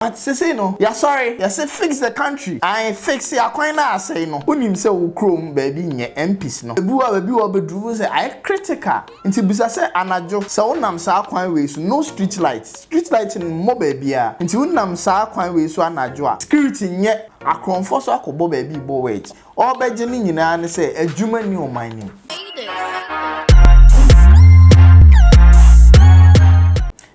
But sesei no yɛasɔre yɛse fix the country ae fix akwan no a asɛe no wonim sɛ wo kurom baabi nyɛ MPs no ebu a baabi wɔ bɛduru wohu sɛ ayɛ critical nti bisa sɛ anadwo sɛ wonam saa kwan wei so no street light street light mmɔ baabiaa nti wonam saa kwan wei so anadwo a security nyɛ akorɔmfoɔ so akɔbɔ baabi bɔ wedge ɔɔbɛgye ne nyinaa ne sɛ adwuma nni ɔman no mu.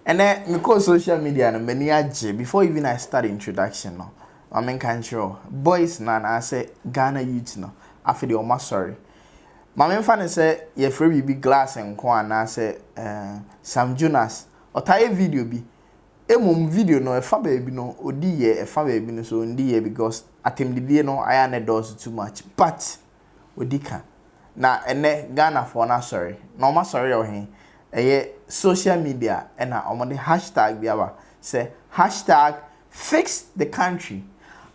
Ɛnɛ mekɔɔ social media no m'ani agye before even I start introduction no ma menka nkyerɛ wo boys no anaasɛ Ghana youth no afei deɛ wɔasɔre ma memfa no sɛ yɛfrɛ biribi glass nko anaasɛ eh, Sam Jonas ɔtaa yɛ video bi mmom video no ɛfa baabi no ɔdi yɛ ɛfa baabi no so ɔndi yɛ because atɛmdidie no ayɛ a na ɛdɔɔso too much but ɔdi ka. Na ɛnnɛ Ghanafoɔ no asɔre. Na wɔn asɔre yɛ wɔ he? Ɛyɛ social media na wɔde hashtag bi aba sɛ hashtag fixthecountry,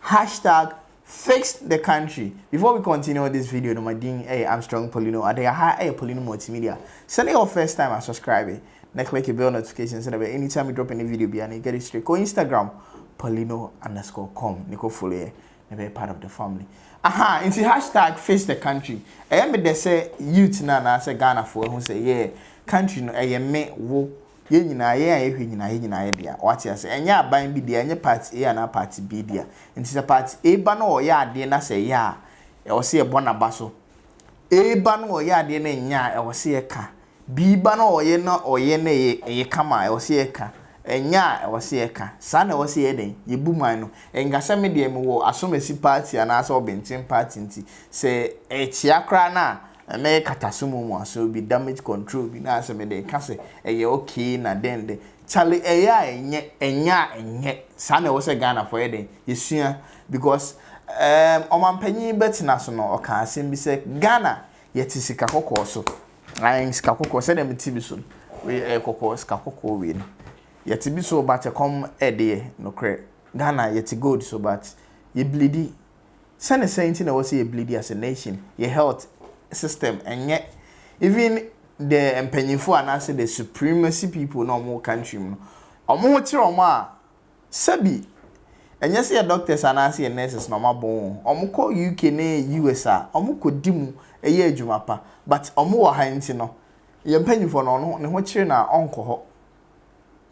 hashtag fixthecountry. Before we continue this video no, my din ɛyɛ Armstrong Polino Ade. Aha ɛyɛ Polino Multimedia. Sɛ ne yɛ wɔ first time a subscribe na click the bell notification sɛ dɛbɛ anytime we drop any video biara na you get it straight. Kɔ Instagram polino underscore com ne kɔ follow yɛ. ɛbɛyɛ part of the family aha nti hashtag face the country ɛyɛ me dɛ sɛ youth no anaasɛ Ghanafoɔ ahu sɛ yɛɛ country no ɛyɛ me wo yɛn nyinaa yɛn a yɛhwɛ nyinaa yɛn nyinaa yɛ dea wate ase ɛnyɛ aban bi dea ɛnyɛ party A anaa party B dea nti sɛ party A ba no ɔyɛ adeɛ na sɛ ɛyɛ a ɛwɔ sɛ yɛbɔ n'aba so A ba no ɔyɛ adeɛ na ɛnyɛ a ɛwɔ sɛ yɛka Bii ba na ɔyɛ na ɔyɛ na ɛyɛ ɛyɛ kama a, ɛwɔ sɛ yɛka. Ɛnyɛ a, ɛwɔ sɛ yɛka. Saa na ɛwɔ sɛ yɛyɛ dɛn? Yɛbu man no. Ɛnka sɛ me deɛ mewɔ asɔmasi party anaasɛ ɔbenten party nti, sɛ ɛkyea koraa no a, mɛyɛ katasomu mu asɔre bi, damage control bi, na sɛ mede reka sɛ ɛyɛ okay na dɛn dɛn. Charlie, ɛyɛ a ɛnyɛ, ɛnyɛ a ɛnyɛ. Saa na ɛwɔ sɛ Ghanafoɔ yɛ dɛn? Yɛsua. Because, ɛɛm, ɔmanpanin Bɛtena so no, ɔkaa asɛm bi sɛ, Ghana, yɛte sika kɔkɔɔ so. Ae sika kɔkɔɔ sɛdeɛ mete bi so no wei ɛyɛ kɔkɔɔ sika kɔkɔɔ wei no yɛte bi so but ɛkɔm ɛde yɛ nokorɛ Ghana yɛte gold so but yɛ bleedi sɛne sɛn nti na ɛwɔ sɛ yɛ bleedi as a nation yɛ health system ɛnyɛ even the mpanyinfoɔ anaasɛ the supremacy people na wɔn wɔ country mu no wɔn ho kyerɛ wɔn a Sɛbi, ɛnyɛ sɛ yɛ doctors anaasɛ yɛ nurses na wɔabɔn wɔn ho. Wɔkɔ UK ne US a, wɔkɔdi mu yɛ adwuma pa. But wɔwɔ ha nti no, yɛn mpanyimfoɔ no, ɔno ne ho kyere no a, ɔnkɔ hɔ.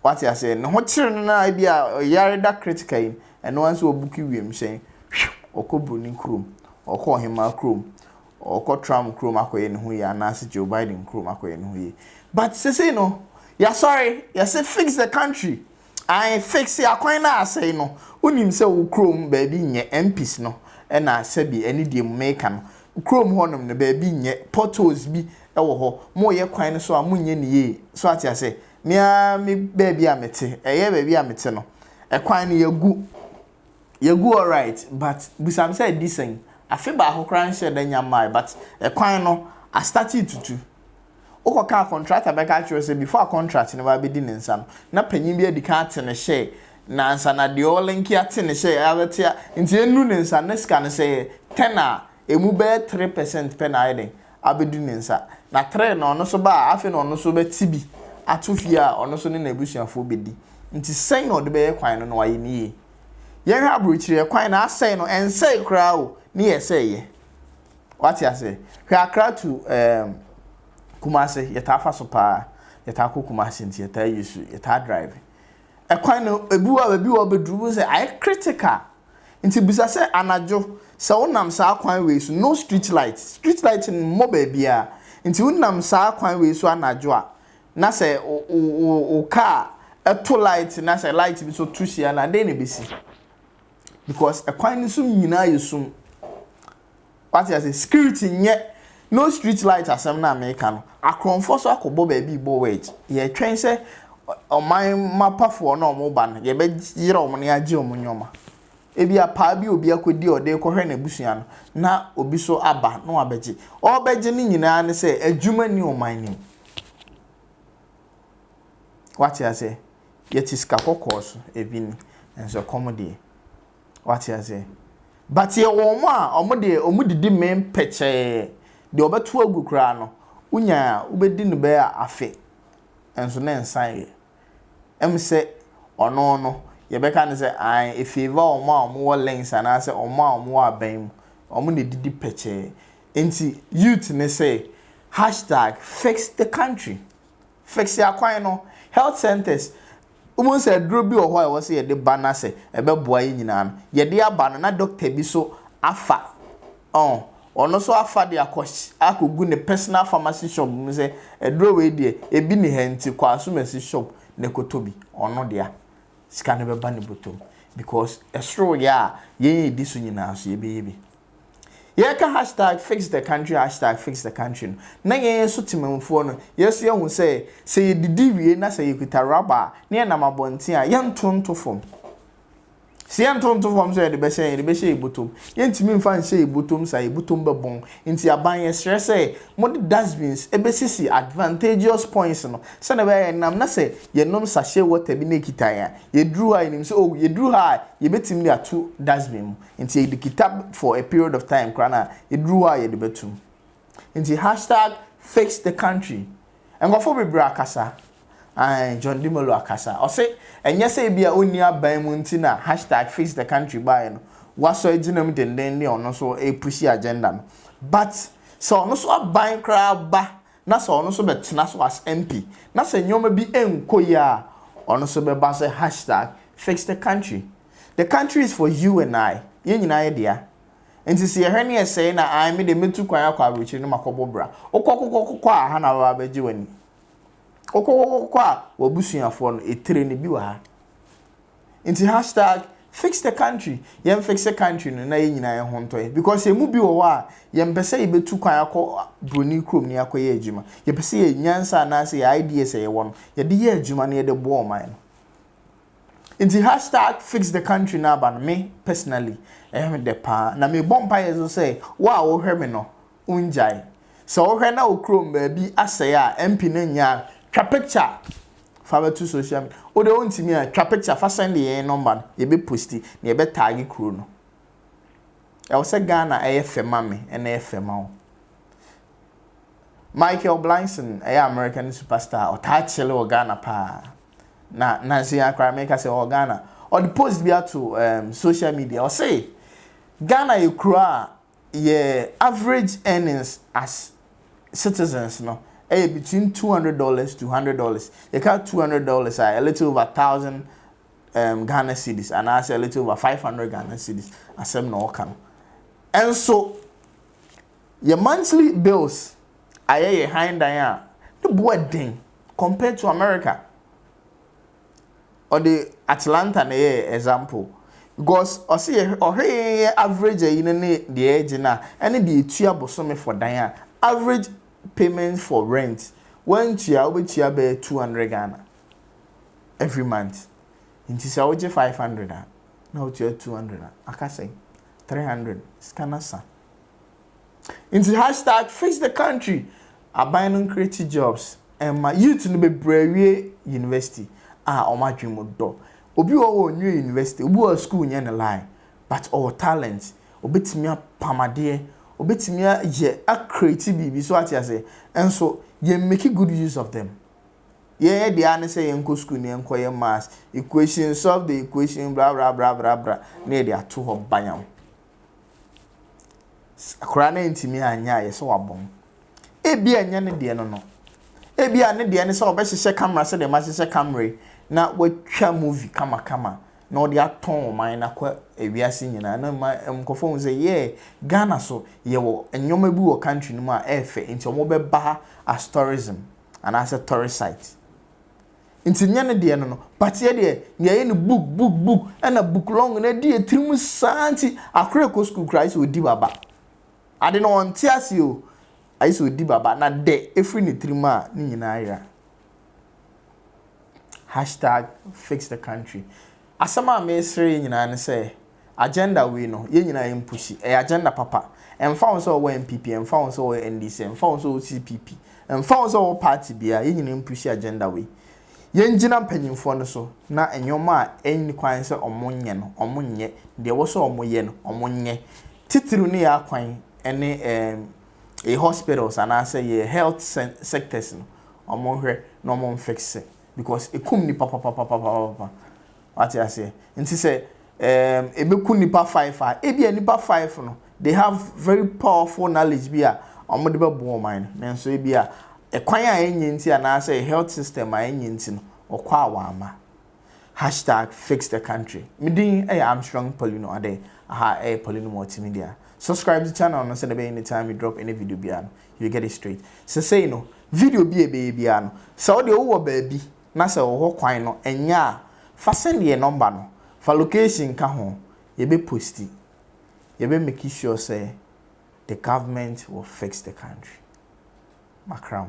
Wate aseɛ? Ne ho kyere no no ara bi a, ɔyare da critical yi, ɛno ara nso ɔbuki wiemhyɛn, hwiuw! Ɔkɔ Buroni kurom, ɔkɔ Ɔhemaa kurom, ɔkɔ Trump kurom akɔyɛ ne ho yie anaasɛ Joe Biden kurom akɔyɛ ne ho yie. But sesei no, yɛasɔre, yɛse fix the country, Ae fixe akwan no a asɛe no wonim sɛ wo kurom baabi nyɛ mpis no na sɛbi ɛne deɛ mu meka no kurom hɔ nom no baabi nyɛ potholes bi wɔ hɔ mo yɛ kwan no so a mo nyɛ no yie so ate ase me ara me baabi a mete ɛyɛ baabi a mete no ɛkwan no yɛgu yɛgu alright but busa me sɛ ɛdi sɛn afe baako koraa nhyɛ da nya mmae but ɛkwan no astate tutu. Wokɔka a kɔntrakta bɛka akyerɛ wo sɛ before a contract no bɛba abɛdi ne nsa no, na panyin bi adi kan ate ne hyɛɛ na ansa na deɛ ɔrelinki ate ne hyɛɛ abɛte a, nti ɛnnu ne nsa ne sika no sɛ ɛyɛ ten a, ɛmu bɛyɛ three percent pɛ na ayɛ dɛn? Abɛdu ne nsa. Na three no ɔno nso ba a, afei na ɔno nso bɛte bi ato fie a ɔno nso ne n'abusuafoɔ bɛdi. Nti sɛn na ɔde bɛyɛ kwan no na wayɛ no yie. Yɛnhwɛ aburokyire, kwan no asɛe no, ɛnsɛe koraa o, ne yɛ sɛ ɛyɛ. Wate aseɛ? Hwɛ Accra to ɛɛm Kumasi, yɛtaa fa so paa. Yɛtaa kɔ Kumasi nti yɛtaa use, yɛtaa drive. Ɛkwan no ebi wɔ a baabi wɔ a wobɛduru wohu sɛ ayɛ critical. Nti bisa sɛ anadwo sɛ wonam saa kwan wei so, no street light, street light mmɔ baabiara, nti wonam saa kwan wei so anadwo a na sɛ wo wo wo car to light na sɛ light bi nso to hyia no a, dɛn na ɛbɛsi? Because ɛkwan no so nyinaa yɛ sum. Wate ase? Security nyɛ no street light asɛm no a meka no. Akorɔmfoɔ nso akɔbɔ baabi rebɔ wedge. Yɛretwɛn sɛ ɔman mapafoɔ no a wɔreba no, yɛbɛyera wɔn na yɛagye wɔn nneɛma. Ebia paa bi a obi akɔdi a ɔde rekɔhwɛ n'abusua no, na obi nso aba na wabɛgye. Ɔrebɛgye no nyinaa ne sɛ adwuma nni ɔman no mu. Wate aseɛ? Yɛte sika kɔkɔɔ so, ebi ni. Nanso ɛkɔm deɛ, Wate aseɛ? But yɛ wɔn a wɔn deɛ wɔn didi mee pɛkyɛɛ. Deɛ ɔbɛto agu koraa no, wonya a wobɛdi no bɛyɛ afe nso ne nsa yɛ. Ɛm sɛ ɔno no yɛbɛka no sɛ ae efeeva wɔn a wɔn wɔ links anaasɛ wɔn a wɔn wɔ aban mu. Wɔn na ɛdidi pɛkyɛɛ. Nti youth no sɛ hashtag fix the country. Fix akwan no, health centres Wobɛhu sɛ aduro bi wɔ hɔ a ɛwɔ sɛ yɛde ba na sɛ ɛbɛboa yɛn nyinaa no, yɛde aba no na dɔkta bi nso afa. Ɔn, ɔno nso afa de akɔ akɔgu ne personal pharmacy shop mu sɛ aduro wei deɛ, ebi nni ha nti kɔ Asumasi shop na kɔtɔ bi. Ɔno deɛ a, sika no bɛba ne bɔtɔ mu because ɛsoro yɛ a yɛn yɛdi so nyinaa nso yɛbɛyɛ bi. Yɛreka hashtag FixTheCountry hashtag FixTheCountry no, na yɛn nso Temanmufoɔ no, yɛn nso yɛahu sɛ, sɛ yɛdidi wie na sɛ yɛkita rubber a, na yɛnam abɔnten a, yɛnto nto fam. Sɛ yɛnto nto fam sɛ yɛde bɛhyɛ, yɛde bɛhyɛ yɛn botom. Yɛntumi mfa nhyɛ yɛn botom saa, yɛn botom bɛbɔn. Nti aban yɛsrɛ sɛ, mode dustbins bɛsisi advantageous points no, sɛdeɛ ɛbɛyɛ a yɛnam na sɛ yɛnom sachet water bi na ɛkita yɛn a, yɛduru hɔ a yɛnim sɛ oh, yɛduru ha a, yɛbɛtumi de ato dustbin mu. Nti yɛde kita for a period of time koraa na ɛduru hɔ a yɛde bɛtum. Nti hashtag fix the country. Nkurɔfoɔ bebree akasa. Ae, John Dimelo akasa. Ɔse ɛnyɛ sɛ ebia ɔnni aban mu nti na hashtag fix the country baeɛ no, wasɔ agyina mu denden ne ɔno nso repushi agenda no. But sɛ ɔno nso aban koraa ba na sɛ ɔno nso bɛtena so as MP na sɛ nneɛma bi nkɔ yie a, ɔno nso bɛba sɛ hashtag fix the country. The country is for you and I, yɛn nyinaa yɛ dea. Nti se yɛhwɛ ne yɛsɛe na ae me de mɛtu kwan akɔ aburokyire na makɔbɔ bra. Wokɔ kokɔ kokɔ a ha na bɛba abɛgye w'ani. Wokɔ kokɔ kokɔ a w'abusuafoɔ no, etire no bi wɔ ha. Nti hashtag fix the country, yɛn fixe country no na yɛn nyinaa yɛn ho ntɔ yɛn because yɛn mu bi wɔ hɔ a yɛn mpɛ sɛ yɛbɛtu kwan akɔ buroni kurom ne akɔyɛ adwuma. Yɛpɛ sɛ yɛn nyansa anaase yɛn ideas a yɛwɔ no yɛde yɛ adwuma na yɛde boa ɔman no. Nti hashtag fixthecountry no aba no me personally ɛyɛ me dɛ paa na mebɔ mpaeɛ nso sɛ wo a wohwɛ me no wongyae. Sɛ wohwɛ na wo kurom baabi asɛe a MP no nyɛ a twa picture fa bɛto social media. Wo deɛ wontumi a twa picture fa sɛnde yɛn nɔmba no yɛbɛ posti na yɛbɛ taage kuro no. Ɛwɔ sɛ Ghana ɛyɛ fɛ ma me ɛna ɛyɛ fɛ ma wo. Michael Blanson ɛyɛ American superstar ɔtaa kyele wɔ Ghana paa. na nansa yi ara koraa meka sɛ ɔwɔ Ghana. Ɔde post bi ato um, social media. Ɔse, Ghana yɛ kuro a yɛ average earnings as citizens no ɛyɛ between two hundred dollars to hundred dollars. Yɛka two hundred dollars a, a little over thousand um, Ghana cedis anaasɛ a little over five hundred Ghana cedis asɛm na ɔka no. Ɛnso yɛ monthly bills ayɛ yɛ han dan a ne bo ɛden compared to America. Ɔde Atlanta na ɛyɛ example because ɔsi yɛ ɔhwɛ yɛn yɛ average ayi no ne deɛ yɛgye no a ɛne deɛ etua bosome for dan a average payment for rent wantua wobɛtua bɛyɛ two hundred Ghana every month nti sɛ wogye five hundred a na wotua two hundred a aka sɛn three hundred sika no asa. Nti hashtag fix the country aban no nkreate jobs mma youth no bebree awie university a wɔn adwene mu dɔ. Obi wɔ hɔ a ɔnwie university, obi wɔ hɔ a school nyɛ ne line but ɔwɔ talent, ɔbɛtumi apam adeɛ, ɔbɛtumi ayɛ a create biribi, so ate aseɛ? Nso yɛn make good use of them. Yɛyɛ deɛ ara ne sɛ yɛnkɔ school na yɛnkɔyɛ maths equation, solve the equation, bra bra bra bra bra na yɛde ato hɔ bayam. Akwadaa no antumi anyɛ ayɛ sɛ wabɔ mu. Ebia ɛnyɛ ne deɛ no no. Ebia ne deɛ ne sɛ ɔbɛhyehyɛ camera sɛdeɛ mahyehyɛ camera yi na watwa movie kamakama na ɔde atɔn ɔman no akɔ ewiase nyinaa na ma nkurɔfoɔ hu sɛ yeah Ghana so yɛwɔ nneɛma bi wɔ country no mu a ɛyɛ fɛ nti wɔbɛba ha as tourism anaasɛ tourist site. Nti nyɛ ne deɛ no no but yɛ deɛ nea yɛ no book book book ɛna book long no adi yɛ tirim saa nti akora ɛkɔ school koraa ayɛ sɛ ɔdi baba ade no ɔnte aseɛ o ayɛ sɛ ɔdi baba na dɛ ɛfiri ne tirim a ne nyinaa yera hashtag fix the country asɛm a mesere yɛ nyinaa ne sɛ Agenda wei no, yɛn nyinaa yɛn pushi. Ɛyɛ agenda papa. Ɛmfa ho sɛ ɔwɔ NPP, ɛmfa ho sɛ ɔwɔ NDC, ɛmfa ho sɛ ɔwɔ CPP, ɛmfa ho sɛ ɔwɔ party biara, yɛn nyinaa yɛn pushi agenda wei. Yɛn gyina mpanyinfoɔ no so na nneɛma a ɛnni kwan sɛ wɔn nyɛ no, wɔn nyɛ. Deɛ ɛwɔ sɛ wɔn yɛ no, wɔn nyɛ. Titiriw ne yɛn akwan ɛne ɛɛm yɛn hospitals anaa sɛ yɛn health sɛn sectors no, wɔn nhwɛ na wɔn nfixe because ɛkum nnipa papapapapapapa. Wate aseɛ? Nti sɛ ɛɛm ɛbɛku nnipa five a, ebia nnipa five no, they have very powerful knowledge bi a wɔde bɛboa ɔman no. Nanso ebia ɛkwan a ɛnyɛ nti anaasɛ health system a ɛnyɛ nti no, wɔkɔ a wɔamma. Hashtag fix the country. Me din yɛ Armstrong Paulino Adeh. Aha ɛyɛ Paulino Multimedia. Subscribe to channel no sɛdeɛ ɛbɛyɛ anytime me drop any video biara no, you get it straight. Sesei no, video bi a ɛbɛyɛ biara no, sɛ wo deɛ wowɔ baabi na sɛ wɔ hɔ kwan no ɛnyɛ a fa send yɛn number no fa location ka ho yɛbɛ posti yɛbɛ make sure sɛ the government will fix the country makram.